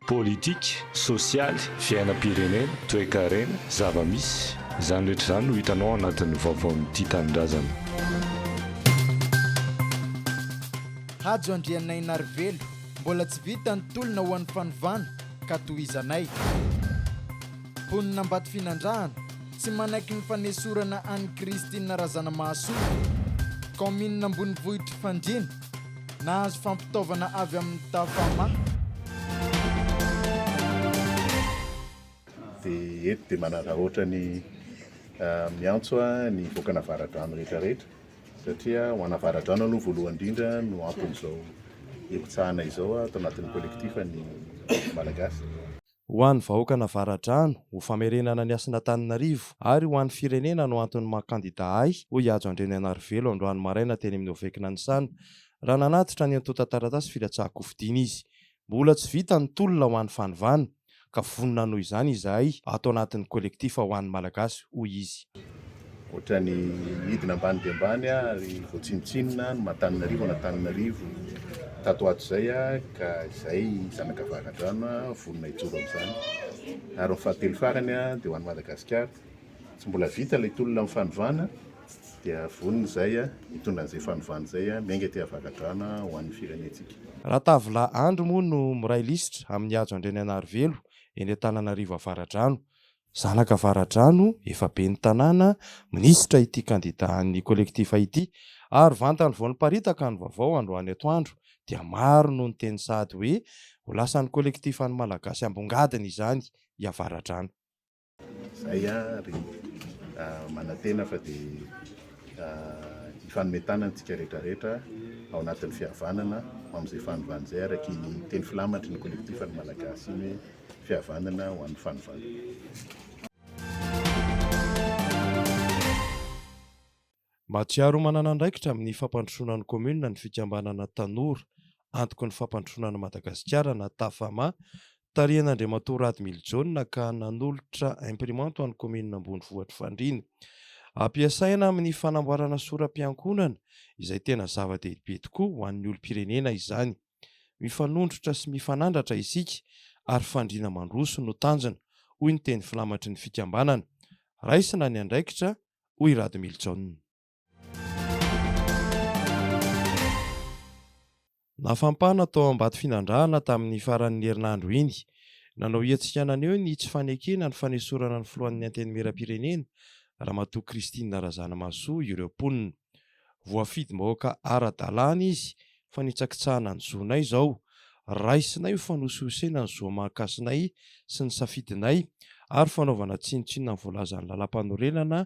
Politika, sosialy, fiainam-pirenena, toekarena, zava-misy, izany rehetra izany no hitanao ao anatin'ny vaovaon'ny Tia Tanindrazana. Hajo Andrianainarivelo, Mbola tsy vita ny tolona ho an'ny fanovana ka tohizanay. Mponina Ambatofinandrahana, Tsy manaiky ny fanesorana an'i Christine Razanamahasoa, kaominina ambonivohitr'i Fandriana. Nahazo fampitaovana avy amin'ny Tafa Ma. Dia eto dia manararaotra ny miantso ny vokana avaradrano rehetrarehetra satria ho ana avaradrano aloha voalohany indrindra no anton'izao hipitsahana izao ato anatin'ny collectif ny Malagasy. Ho an'ny vahoakan'Avaradrano, ho famerenana ny hasin'Antananarivo ary ho an'ny firenena no antony maha kandida ahy, hoy i Hajo Andrianarivelo androany maraina teny amin'ny OVEC Nanisana, raha nanatitra ny antontan-taratasy filatsahan-kofidiana izy. Mbola tsy vita ny tolona ho an'ny fanovana, ka vonona hanohy izany izahay ato anatin'ny kolektifa Ho an'ny Malagasy, hoy izy. Ohatrany midina ambany dia ambany ary voatsinotsinona ny matan'Antananarivo an'Antananarivo tato ato izay ka izay zanaka varadrano vonona hijoro amin'izany. Ary ny fahatelo farany dia ho an'i Madagasikara. Tsy mbola vita ilay tolona amin'ny fanovana dia vonona izay hitondra an'izay fanovana izay miainga aty Avaradrano ho an'ny firenentsika. Ratavola Andry moa no miray lisitra amin'ny hajo Andrianaianarivelo eny Antananarivo Avaradrano. Zanaka Avaradrano, efa ben'ny tanàna, minisitra ity kandida an'ny Collectif ity. Ary vantany vao niparitaka ny vaovao androany atoandro dia maro no niteny sahady hoe ho lasan'ny Collectif an'ny Malagasy ambongadiny izany i Avaradrano. Izay ary, manantena fa dia hifanome tanana isika rehetrarehetra ao anatin'ny fihavanana ho amin'izay fanovana izay araka iny teny filamatry ny Collectif an'ny Malagasy iny hoe. Fihavanana ho an'ny fanovana. Mahatsiaro manana andraikitra amin'ny fampandrosoana ny kaominina ny fikambanana Tanora, antoky ny fampandrosoana an'i Madagasikara na Tafama, tarihan'Andriamatoa Rad Mily Jaona ka nanolotra imprimante ho an'ny kaominina ambonivohitr'i Fandriana. Ampiasaina amin'ny fanamboarana sora-piankonana izay tena zava-dehibe tokoa ho an'ny olom-pirenena izany. Mifanondrotra sy mifanandratra isika ary fandriana mandroso no tanjona, hoy ny teny filamatry ny fikambanana. Raisina ny andraikitra, hoy i Radomilijaona. Nafampana tao Ambatofinandrahana tamin'ny faran'ny herinandro iny. Nanao hetsika naneho ny tsy fanekena ny fanesorana ny filohan'ny Antenimierampirenena, Ramatoa Christine Razanamahasoa ireo mponina. Voafidim-bahoaka ara-dalàna izy fa nitsakitsahana ny zonay izao. Raisinay ho fanosihosena ny zo aman-kasinay sy ny safidinay ary fanaovana tsinontsinona ny voalazan'ny lalàmpanorenana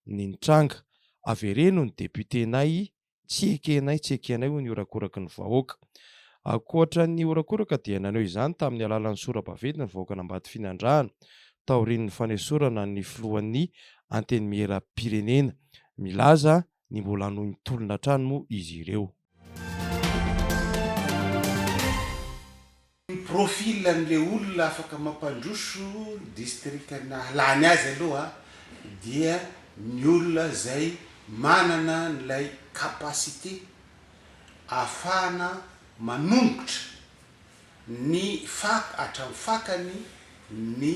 ny nitranga. Avereno ny depiotenay, tsy ekenay, tsy ekenay hoy ny horakoraky ny vahoaka. Ankoatra ny horakoraka dia naneho izany tamin'ny alàlan'ny sora-baventy ny vahoakan'Ambatofinandrahana. taorian'ny fanesorana ny filohan'ny Antenimierampirenena. Milaza ny mbola hanohin'ny tolona hatrany moa izy ireo. Ny profil an'ilay olona afaka mampandroso distrikanà lany azy aloha dia ny olona izay manana an'ilay capacité ahafahana manongotra ny faka hatramin'ny fakany ny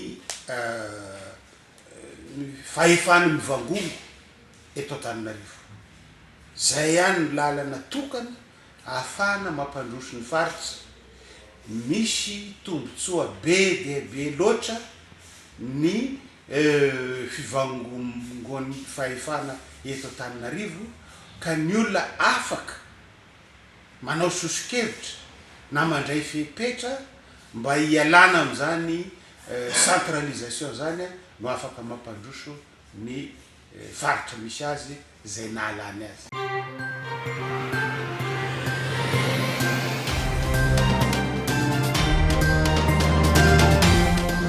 ny fahefany mivangongo eto Antananarivo. Izay ihany ny lalana tokana ahafahana mampandroso ny faritra. Misy tombontsoa be dia be loatra ny fivangongoan'ny fahefana eto Antananarivo ka ny olona afaka manao soso-kevitra na mandray fepetra mba hialana amin'izany centralisation izany no afaka mampandroso ny faritra misy azy izay nahalany azy.